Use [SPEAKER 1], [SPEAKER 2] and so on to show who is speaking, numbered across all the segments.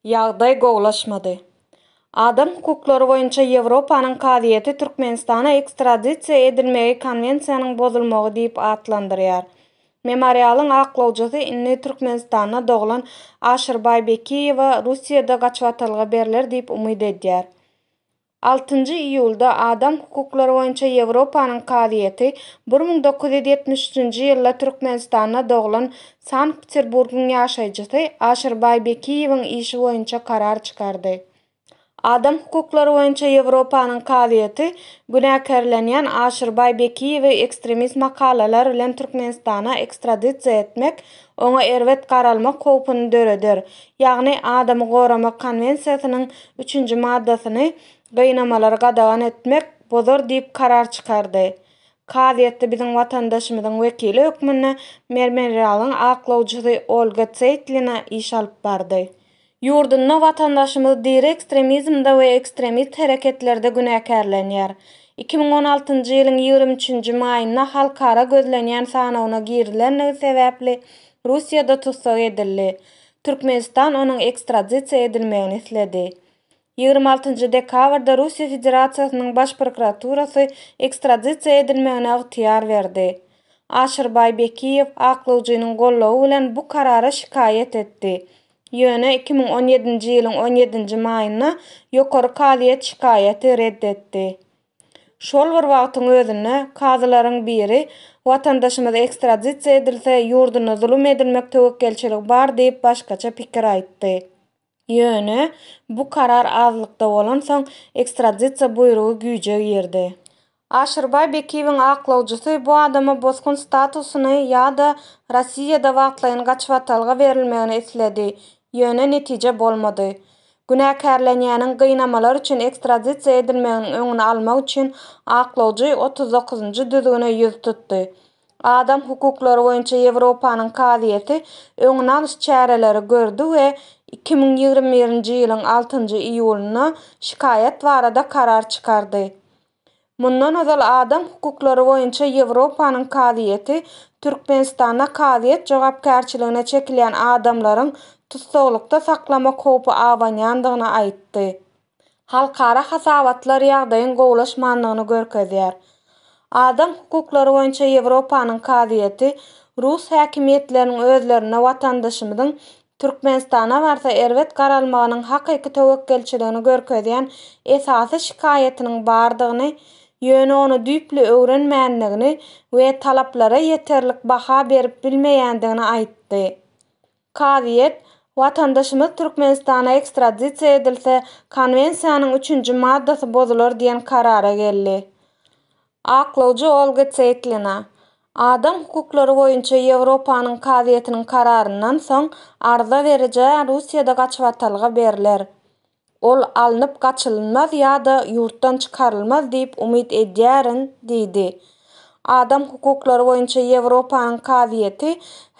[SPEAKER 1] Ýagdaý gowulaşmady. Adam hukuklary boýunça Ýewropanyň kazyýeti Türkmenistana ekstradisiýa edilmegi konwensiýanyň bozulmagy diýip atlandyrýar. Memorialyň aklawjysy indi Türkmenistanda doglan Aşyrbaý Bekiýewa Russiýada gaçybatalga berler diýip umyt edýär. Altynjy iýulda Adam hukuklary boýunça Ýewropanyň kazyýeti bir müň dokuz ýüz ýetmiş üçünji ýylda Türkmenistanda doglan Sankt-Peterburgyň ýaşaýjysy Aşyr Baýbekiýewiň işi boýunça karar çykardy. Adam hukuklary boýunça Ýewropanyň kazyýeti günäkärlenýän Aşyr Baýbekiýewi ekstremist makalalar bilen Türkmenistana ekstradisiýa etmek oňa erbet garalmak howpuny döreder, ýagny adamy goramak konwensiýasynyň üçünji maddasyny gynamalary gadagan etmek bozar diýip karar çykardy. Kazyýetde biziň watandaşymyzyň wekili hökmünde Mermerialyň aklawjysy Olga Tseitlina iş alyp bardy. Ýurdunda watandaşymyz diri ekstremizmde we ekstremist hereketlerde günäkärlenýär. Iki müň on altynjy ýylyň ýigrimi üçünji maýynda halkara gözlenýän sanawyna girilendigi sebäpli Russiýada tussag edildi. Türkmenistan onuň ekstradisiýa edilmegini isledi. Ýigrimi altynjy dekabrda Russiýa Federasiýasynyň Baş prokuraturasy ekstradisiýa edilmegine ygtyýar berdi. Aşyrbaý Bekiýew aklawjynyň goldawy bilen bu karara şikaýat etdi. Ýöne iki müň on ýedinji ýylyň on ýedinji maýynda Ýokary kazyýet şikaýaty red etdi. Şol bir wagtyň özünde kazylaryň biri watandaşymyz ekstradisiýa edilse, ýurdunda zulum edilmek töwekgelçiligi bar diýip başgaça pikir aýtdy. Ýöne bu karar azlykda bolansoň, ekstradisiýa buýrugy güýje girdi. Aşyrbaý Bekiýewiň aklawjysy bu adama bosgun statusyny ýa-da Rossiýada wagtlaýyn gaçybatalga berilmegini isledi, ýöne netije bolmady. Günäkärlenýäniň gynamalar üçin ekstradisiýa edilmeginiň öňüni almak üçin aklawjy otuz dokuzynjy düzgüne ýüz tutdy. Adam hukuklary boýunça Ýewropanyň kazyýeti öňüni alyş çäreleri gördi we iki müň ýigrimi birinji ýylyň altynjy iýulynda şikaýat barada karar çykardy. Mundan ozal Adam hukuklary boýunça Ýewropanyň kazyýeti Türkmenistanda kazyýet jogapkärçiligine çekilýän adamlaryň tussaglykda saklamak howpy abanýandygyny aýtdy. Halkara hasabatlar ýagdaýyň gowulaşmandygyny görkezýär. Adam hukuklary boýunça Ýewropanyň kazyýeti rus häkimiýetleriniň özlerinde watandaşymyzyň Türkmenistana barsa erbet garalmagynyň hakyky töwekgelçiligini görkezýän esasy şikaýatynyň bardygyny, ýöne ony düýpli öwrenmändigini we talaplara ýeterlik baha berip bilmeýändigini aýtdy. Kazyýet, Watandaşymyz Türkmenistana ekstradisiýa edilse, Konwensiýanyň üçünji maddasy bozular diýen karara geldi. Aklawjy Olga Seýtlina, Adam hukuklary boýunça Ýewropanyň kazyýetiniň kararyndan soň arza berijä Russiýada gaçybatalga berler. Ol alnyp gaçylynmaz ýa-da ýurtdan çykarylmaz diýip umyt edýärin diýdi. Adam hukuklary boýunça Ýewropanyň kazyýeti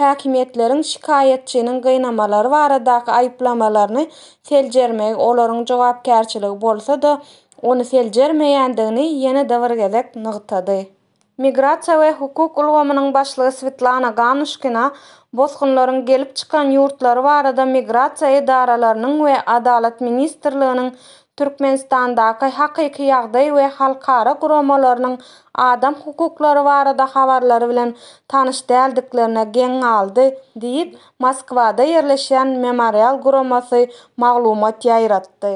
[SPEAKER 1] häkimiýetleriň şikaýatçynyň gynamalary baradaky aýyplamalaryny seljermegi olaryň jogapkärçiligi bolsa-da, ony seljermeýändigini ýene-de bir gezek nygtady. Migrasiýa we hukuk ulgamynyň başlygy Swetlana Ganuşkina bosgunlaryň gelip çykan ýurtlary barada migrasiýa edaralarynyň we Adalat ministrliginiň Türkmenistandaky hakyky ýagdaý we halkara guramalarynyň adam hukuklary barada habarlary bilen tanyş däldiklerine geň galdy diýip, Moskwada ýerleşýän Memorial guramasy maglumat ýaýratdy.